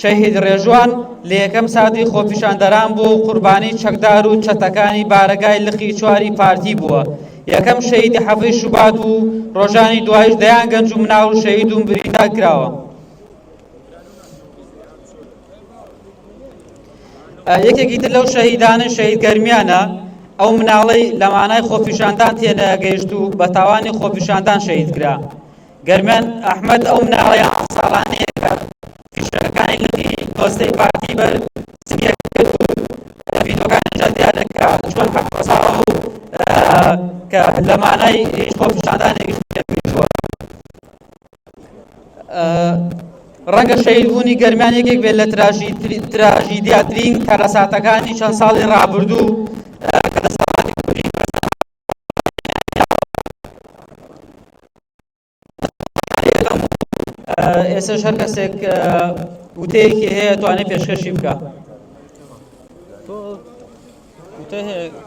شەهید ڕێژوان لە یەکەم ساتی خۆپیشاندەران بوو و قوربانی چەکدار و چەتەکانی بارەگای لقی چواری پارتی بووە، یەکەم شەهیدی حەڤی شوبات بوو، ڕۆژانی دوایش دەیان گەنج و مناڵ شەهید و بریندار کراوە. یەکێکی تر لەو شەهیدانە شەهید گەرمیانە، ئەو مناڵەی لە مانای خۆپیشاندان تێنەگەیشت و بە تاوانی خۆپیشاندان شەهید کرا. گەرمیان ئەحمەد ئەو مناڵە یازدە ساڵانەیە کە فیشەکانی لقی پۆستەی پارتی بەر زنیەک کرد و لە ڤیدۆکانیشدا دیارە کە چۆن حەپۆساوە و کە لە مانای هیچ خۆپیشاندانێکیش پێشوە ڕەنگە شەیدبوونی گەرمیان یەکێک بێت لە تراژیدیاترین کارەساتەکانی چەند ساڵی ڕابردوو ئێسش هەر کەسێک وتەیەکی هەیە توانێت پێشکەشی بکە